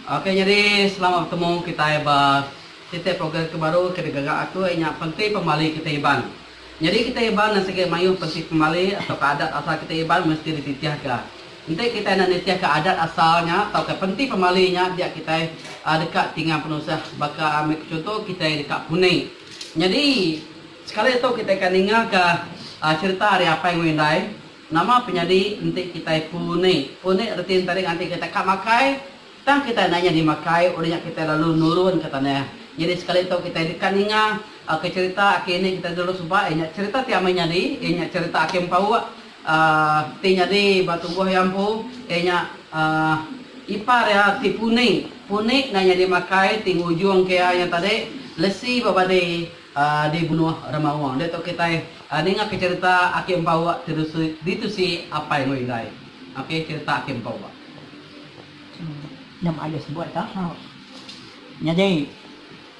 Ok nyadi selamat betemu kitai ba siti program ke baru ke digaga aku iya nya penti pemali kitai Iban. Nyadi kitai Iban nan sigi mayuh penti pemali tauka adat asal kitai Iban mesti dititihka. Enti kitai enda nitihka adat asal nya tauka penti pemali nya dia kitai deka tingang penusah baka ambi ku chunto kitai deka puni. Nyadi sekali tu kitai ka ninga ka cerita ari apai enggau indai. Nama penyadi enti kitai punik? Punik reti enti ari nganti kitai ka makai, tang kitai enda nyadi makai udah nya kitai lalu nurun ka tanah. Nyadi sekali tu kitai deka ninga ke cherita aki indi kitai dulu suba iya nya cherita ti amai nyadi iya nya cherita aki empauk ti nyadi ba tubuh iya empu iya nya ipar iya ti punik. Punik enda nyadi makai ti ngujungka iya nya tadi lesi ba badi. Di bunuh Remaung enda tu kitai ninga ke cerita aki empauk di tusi apai enggau indai ok cerita aki empauk. Nya maioh sebut ka hau. Nyadi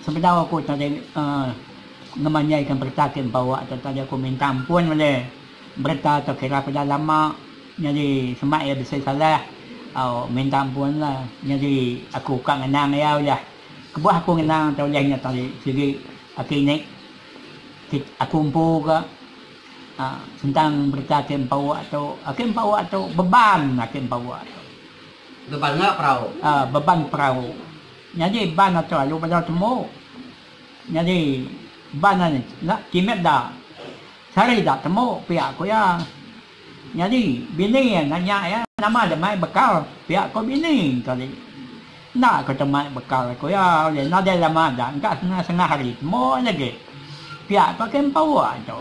sebedau aku tadi ngemanjai ka berita aki empauk tu tadi aku minta ampun ulih berita tu kira aku dah lama nyadi sema iya bisi salah au minta ampun la nyadi aku ka ngenang iya ulih. Kebuah aku ngena tau ulih nya tali sigi aki nek ti aku empu ga sentang berita ke empa uak tu aki empa uak tu beban aki empa uak tu. Beban enggau perau. Aa beban perau nyadi ban atu alu bala tembu nyadi ban anu kimet da sehari da tembu pia ku iya. Nyadi bini iya nanya iya, Nama deh mai bekal pia ko bini engkau ti? Enda ko tau mai bekal ko iya ulih nadai lama da engka kena sengah hari tembu iya agi. Pia ko ke empa uwa tu.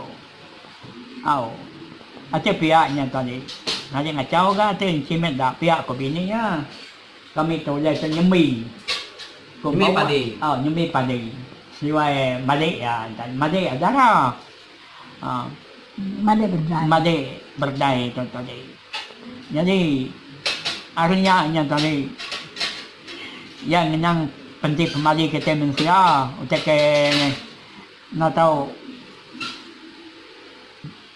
Au. Ati pia nya engkau ti. Ngaji ngachau ga ati enchi mit da pia ko bini iya. Kami tu ulih tu nyembi ko empa uwa. Au nyembi padi. Seduai madik iya enta madik iya dara. Madai berdai. Madai berdai tu tadi. Jadi ari nya nya tadi iya ngenang penti pemali kitai mensia utai ke enda tau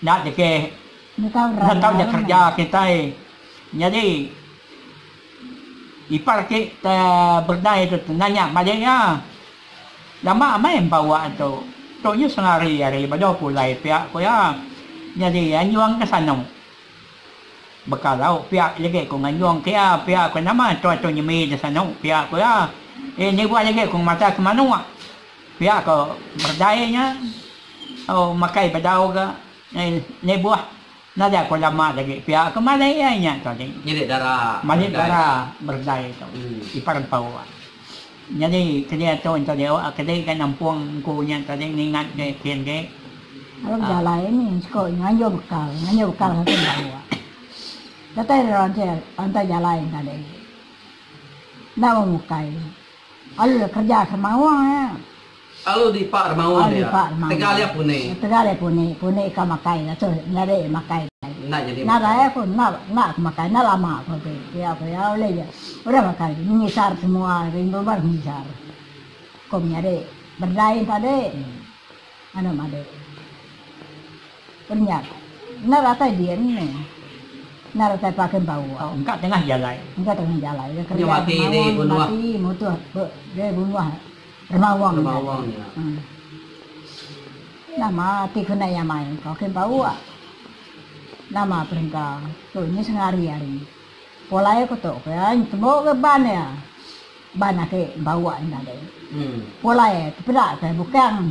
enda dikeh enda tau da kerja kitai. Jadi ipar ake te berdai tu tanya madai iya. Lama amai empa wak tu. Tu nya sengari ari bedau pulai pia ku iya. Nyadi iya nyuang ke sano. Beka lauk pia legi ku nganjung ke iya pia ku nama tua tu nyemi di sano pia ku iya. Iya nibuh legi ku ngemata ke manuk pia ku berdai nya. Au makai bedau ga nibuh Nadai ko lama dagi pia ke malai ai nya tu agi. Malit dara malit dara berdai tu ipar empau ai. Nyadi kelia tu ento diau a kedi ga nampung engku nya tu agi ngingat ke kin agi. Lalu bejalai ni siko nganjau bekal nganjau bekal ka kin ba mua. Datai ira ranti rantai jalai enta deh agi. Enda bembukai. Alu ira kerja ke maoa ia. Alu dipa remaun dia. Tegal ia puni. Tegal ia puni. Puni ikau makai dah tu. Nyadi makai dah. Enda nyadi makai. Nadai aku enda enda aku makai. Enda lama aku agi. Iya ku iya ulih ja. Udah makai agi. Menyisar semua rindu baru menyisar. Aku menyadi berdai tadi. Anu madi. Penyat. Enda datai din ni. Enda datai pagi empu. Engka tengah jalai. Engka tengah jalai. Dia kerja kemauan mati mutuh. Dia bunguh. Remawang nya. Huh. Nama ti ku nai amai ka ke bau ah. Nama perengka tu nyi sengari hari. Polai ku tu ke ai tembu ke ban iya. Ban ake bau ah enda deh. Polai tu peda ke bukang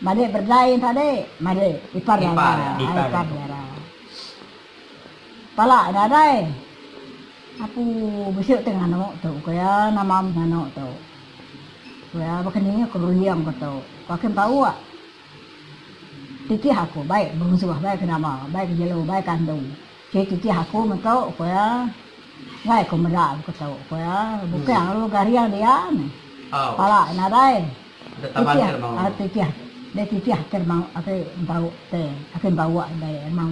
madik berdai nya tadi madik ipar dara. Ipar dara. Pala enda deh. Apu besuk te nganu tu ke ai nama menganu tu. Pia baka ni aku berunding ba tu. Ku Hakim tau ka. Titih aku bai berusuh, bai ke nama, bai ke jelu, bai ke andu. Ti titih aku meh tu ku iya. Enggai ku meda baka tu ku iya. Bukang lalu garing dia meh. Pala iya nadai. Titih titih deh titih ati ati tau te. Hakim tau ka deh emang.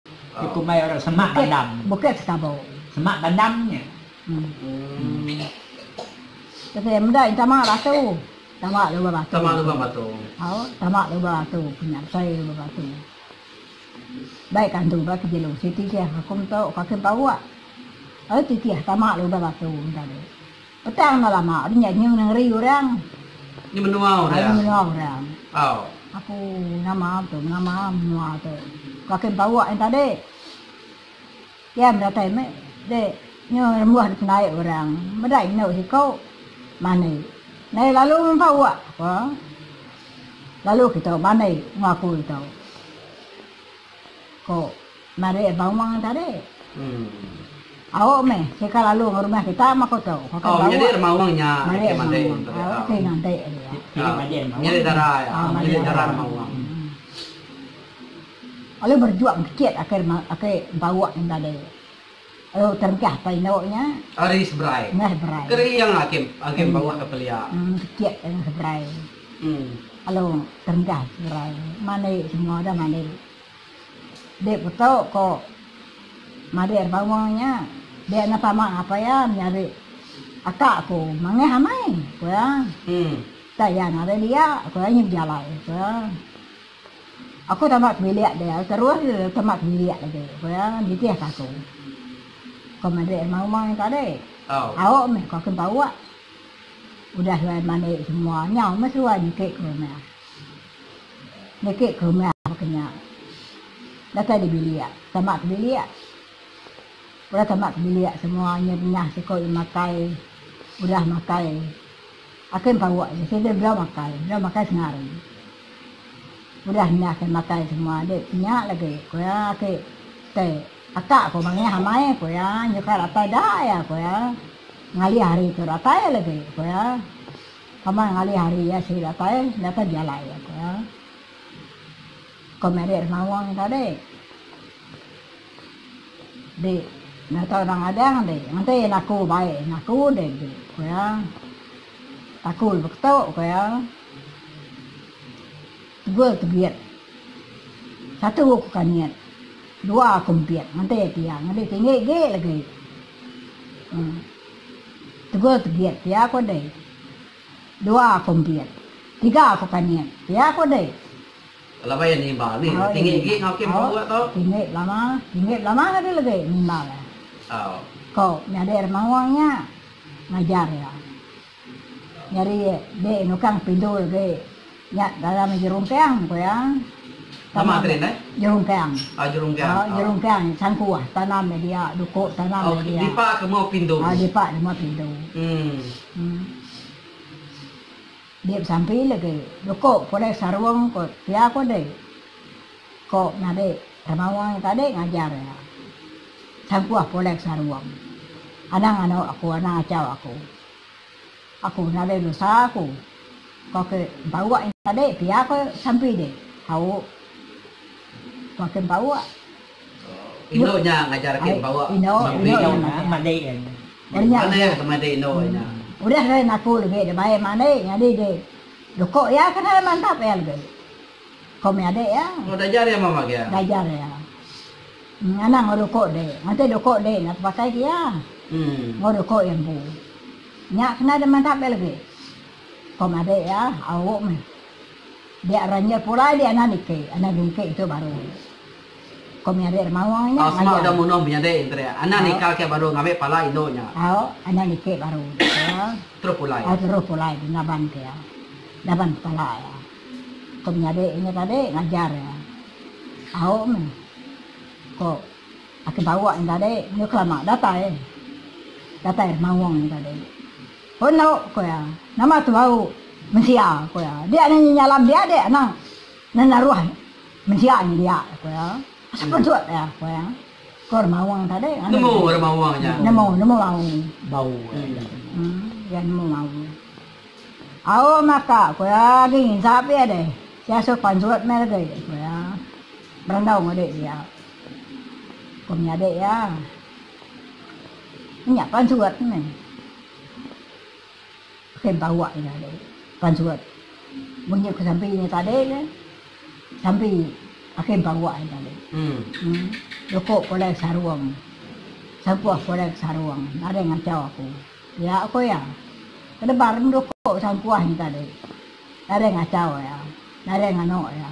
Ti kumbai orang semak bandam. Bukit sekabu. Semak bandam nya. Tapi meda intama batu. Tama lubang batu. Tama lubang batu. Au, tama lubang batu punya besai lubang batu. Baik kantu ba kejilu siti sia aku mento kaki empa uak. Au titih tama lubang batu enda. Petang enda lama ari nya nyeng nengeri orang. Ari menua orang. Aku nama tu nama menua tu. Kaki Mempawak yang tadi. Kian bedatai meh di nya rembuh dipendai orang. Bedai enu siku mani. Nai lalu Mempawak ko. Lalu kitu mani ngaku ditu. Ko. Marik bawang tadi. Auk meh sika lalu ngerumah kita mah ko tu. Pakai bawang. Marik bawang. Auk ti nganti dia. Ngelik dara iya. Ngelik dara ari bawang. Lalu berjuang kecit aki aki bauk nya tadi. Lalu terengkah apai indu nya. Ari seberai. Ngah seberai. Kering aki aki bauk ke pelia. Kecit ari seberai. Lalu terengkah seberai. Mandi semua dah mandi. Dek Putu ko madik ari Pawong nya dek enda sama ngapa iya menyadi aka aku mangeh amai ko iya tak iya ngagai dia ko iya nyu bejalai ko iya aku tama ke bilik deh aku terus deh aku tama ke bilik lagi ko iya nitih ka aku ko madik ari Pawong nya tadi au meh ko aku empa uwa udah suai manik semua nyau meh suai niki ko iya meh. Niki ke rumah baka nya. Datai dibilik, tama ke bilik. Udah tama ke bilik semua inya bengah siko iya makai. Udah makai. Ake empouk je sida bela makai, bela makai setengah hari. Udah nya ke makai semua dek kenya lagi ku iya ake te aka ko mangeh amai ku iya nyuka datai da iya ku iya. Ngalih hari tu datai lagi ku iya. Amat ngalih hari iya sida datai, datai dialai iya ko. Ko Mary Remaung nya tadi. Di nyata orang ngadang di ngenti naku bai naku di di ko iya. Taku lebuh ketu ko iya. Tegul tebit. Satu ku kanyit. Dua ku empit ngenti iya pia. Ngebi tinggi agi lagi. Em. Tegul tebiet pia aku dei. Dua aku embiet. Tiga aku kaniet pia aku dei. Lama iya nimbal ni. Tinggi agi enggau Kim Kong Ua tu. Tinggi belama. Tinggi belama agi legi nimbal iya. Ko nyadi ari Mawang nya ngajar iya. Nyadi dek nukang pindu legi. Nya dalam jerungkang ku iya. Tama nya jerungkang. Au jerungkang sangku ah tanam nya dia duko tanam nya dia. Au dipa ke mau pindu. Au dipa ke mau pindu. Uhh. Dia besampi lagi duko pulai sarung ko pia ko deh. Ko ngabi tamawa nya tadi ngajar iya. Sangku ah pulai sarung. Anang anu aku anang achau aku. Aku nadai dosa ku. Ku ake empa-uak nyin tadi pia ko sampi deh. Hauk ku ake empa-uak. Indu nya ngajar ake empa-uak ngembi nya madi iya nya. Meri madi iya ke madi indu iya nya. Udah deh naku lebih deh bae madi nyadi deh loko iya ke deh mantap iya lebih. Ko meh ade iya. Oh diajar iya mama ke iya. Diajar iya. Nganang enggau loko deh. Ngante loko deh enda tepakai ke iya. Enggau loko iya empu. Nya kena deh mantap deh lebih. Ko madik iya, auk meh. Dia ranjil pulai di anak diki, anak dungki tu baru. Ko menyadi deh maung nya ngajar. Asma udah munuh menyadi entri. Anak nikal ke baru ngambi pala indu nya. Auk, anak diki baru. Terus pulai. Auk terus pulai di ngaban ke iya. Ngaban kepala iya. Ko menyadi nya tadi ngajar iya. Auk meh. Ko. Aku bawa enda deh enggau kelama datai. Datai rumah wong enda deh. Pun lau ku iya, nama tu bau mensia ku iya. Dia nanya nyala mendia deh anang nenda ruah mensia nya dia ku iya. Asal penusut dia ku iya. Ko rumah wong enda deh. Nemu rumah wong nya. Nemu nemu bau. Bau iya. Iya nemu bau. Au maka ku iya agi nginsap iya deh. Sia suh penusut meh legi ku iya. Berandau enggau dek dia. Ku nya dek iya. Nya pan surat tu meh. Ke entawa iya tadi. Pan surat. Mun nya ku Sampi nya tadi ke. Sampi ake entawa iya tadi. Uhh. Loko pulai sarung. Sampuh pulai ke sarung. Nadai ngacau aku. Nya ku iya. Ke debar meh loko sampuh nya tadi. Nadai ngacau iya. Nadai nganu iya.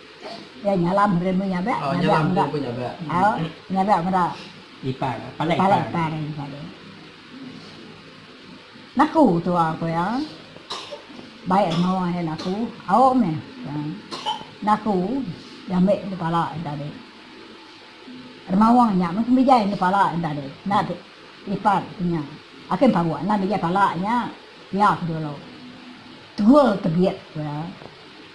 Iya nyalam ri empu nyabak meda ipar pala ipar iya. Naku tua ku iya baik engo iya naku au meh naku diambe di pala iya tadi. Remawang nya meh kembijai di pala iya tadi nat ipar ku nya ake paguh anan di pala nya pia ku dulu tegul tebit ku iya.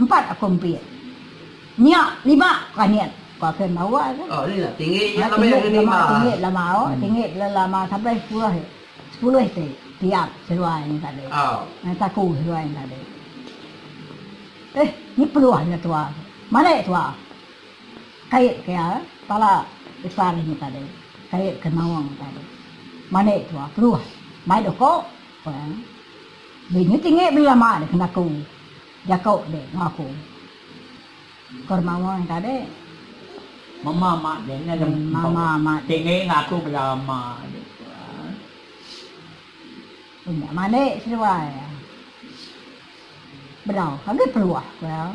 Empat aku empit. Nya lima ku Anit, ku aku iya mbawa tu. Ha tinggi nya lama tinggi lama tinggi lama au tinggi lama sampai sepuluh sepuluh ti tiap seluai nya tadi. Au taku seluai nya tadi. Eh nya peluh nya tua tu. Marik tua. Kait ke iya pala ipar inya tadi. Kait ke maong tadi. Marik tua peluh. Mai doko. Pang. Beli nyu tinggi bela mak deh kena aku. Jako deh enggau aku. Ko Remawa nya tadi. Mema mak deh nya deh mema mak deh. Tinggi enggau aku bela mak deh tuan. Nya mandi seduai. Bedau agi peluah ku iya.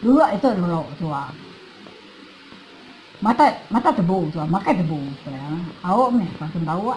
Dulu ditu dulu tuan. Mata mata tebu tuan makan tebu ku iya. Au meh aku bawa.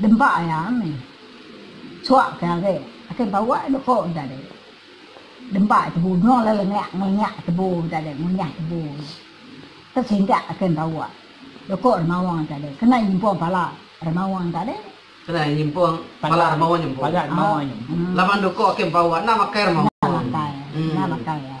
Dempa iya mih suak ke hari ake bawa iya lepo tadi dempa iya tebu nyuang le lengak ngelengak tebu tadi ngunyah tebu ke singgah ake bawa loko remaung tadi kena nyimpung pala remaung tadi kena nyimpung pala remaung nyu pala remaung nyu laban loko ake bawa enda makai remaung enda makai enda makai iya.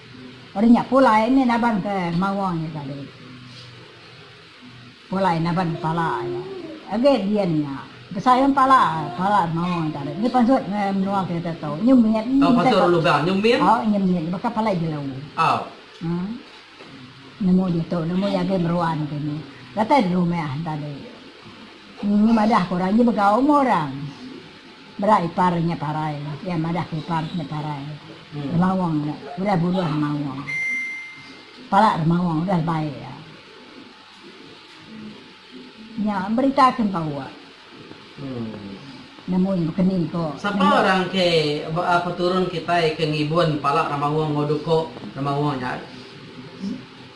Udah nya pulai mih naban ke maung iya tadi. Pulai naban kepala iya. Agi dian nya besayung pala pala maung iya tadi. Nya pansut meh menua kita tu nyemit. Tau pansut orang Lubang nyemit? Au nyemit baka palai jelu. Au. Haa. Nemu ditu nemu iya agi meruan ke ni. Datai rumah tadi. Nyi madah ke orang nyi begau meh orang. Bela ipar nya parai, iya madah ke ipar nya parai. Remaung nya udah buluh remaung. Pala remaung udah lebai iya. Nya berita ke empoa. Nemu nya bekeni ko. Sapa orang ke peturun kitai ke ngibun pala remaung enggau duko remaung nya ari?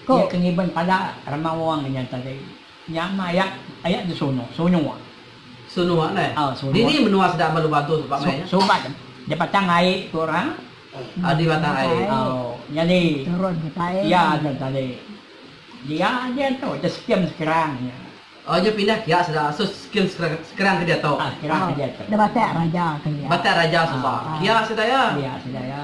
Ko. Iya ke ngibun pala remaung nya tadi. Nya mah ayat ayat tu sono sonua. Sono alai. Ha sono. Dini menua sida amat lubang tu sebab meh. Subat di batang ai tu orang. Ha di batang ai. Ha nyadi turun ke tai. Iya nya tadi. Dia nya tu ke skim sekarang nya. Oh nya pindah kiak sida asus skim sekarang sekarang ke diatu. Ha sekarang ke diatu. Di batak raja ke iya. Batak raja suba. Kiak sida iya. Kiak sida iya.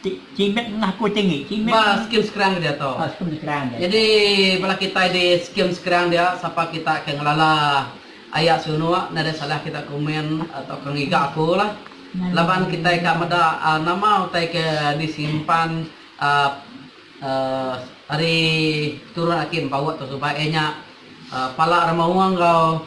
Ti Cimit ngah ku tinggi Cimit. Ba skim Sekerang dia tu. Oh skim Sekerang dia tu. Nyadi bala kitai di skim Sekerang dia sapa kita ke ngelala aya sunuk enda ada salah kita komen tauka ngiga aku lah laban kitai ka meda nama utai ke disimpan uhh ari turun aki empa wak tu suba iya nya pala remaung enggau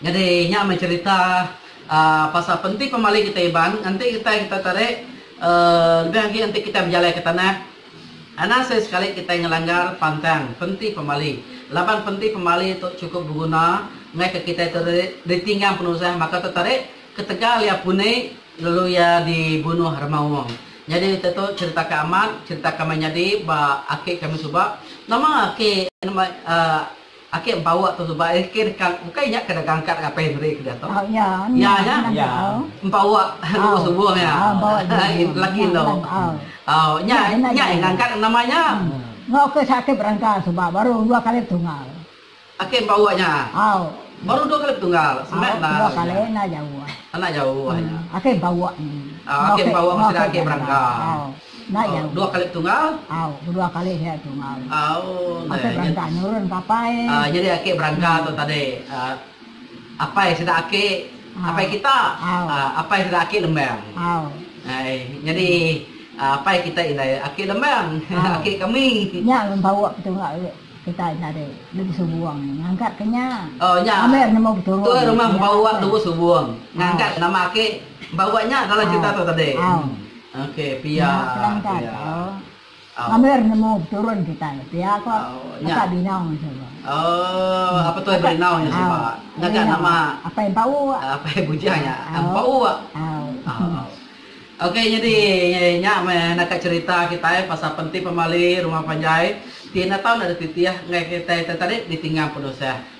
Nyadi nya meh cherita pasal penti pemali kitai Iban enti kitai kita tarik lebih agi enti kitai bejalai ke tanah anak seh sekali kitai ngelanggar pantang penti pemali laban penti pemali tu chukup beguna ngai ke kitai tu ditinggang penusah maka tu tarik ketegal iya puni lalu iya di bunuh remaung nyadi utai tu cherita ke amat cherita ke meh nyadi ba aki kami suba nama aki Ake empower tu suba eh ke deka bukai nya ke deka angkat ngapai negeri ke diatu. Iya nya iya empower lebuh subuh nya lelaki endo au nya nya enda angkat nama nya. Enggau ke sak ke berangkal suba baru dua kali betunggal. Ake empower nya baru dua kali betunggal semak enda dua kali enda jauh ah enda jauh ah nya ake empower nya ake empower ke sida ake berangkal. Enda iya. Dua kali tunggal. Au. Bedua kali iya tunggal. Au. Ake berangka nurun ke apai. Nyadi ake berangka tu tadi apai sida ake apai kita. Apai sida ake lembang. Au. Nyadi apai kita indai ake lembang. Ake kami. Nya ulun pauk betunggal kita nya tadi Lebuh Subong nya ngangkat ke nya. Oh nya. Kami ira nemu beturun. Tu rumah pauk Lebuh Subong. Ngangkat nama ake pauk nya dalam cerita tu tadi. Au. Nya terang gaga Amir nemu beturun kitai pia ko Apai Binau nya suba. Apai Binau nya suba. Apai Empau wak. Apai Bujang nya Empau wak. Okey nyadi nya meh naka cherita kitai pasal Penti Pemali Rumah Panjai ti enda tau enda dititih enggai kitai tadi ditinggang penusah.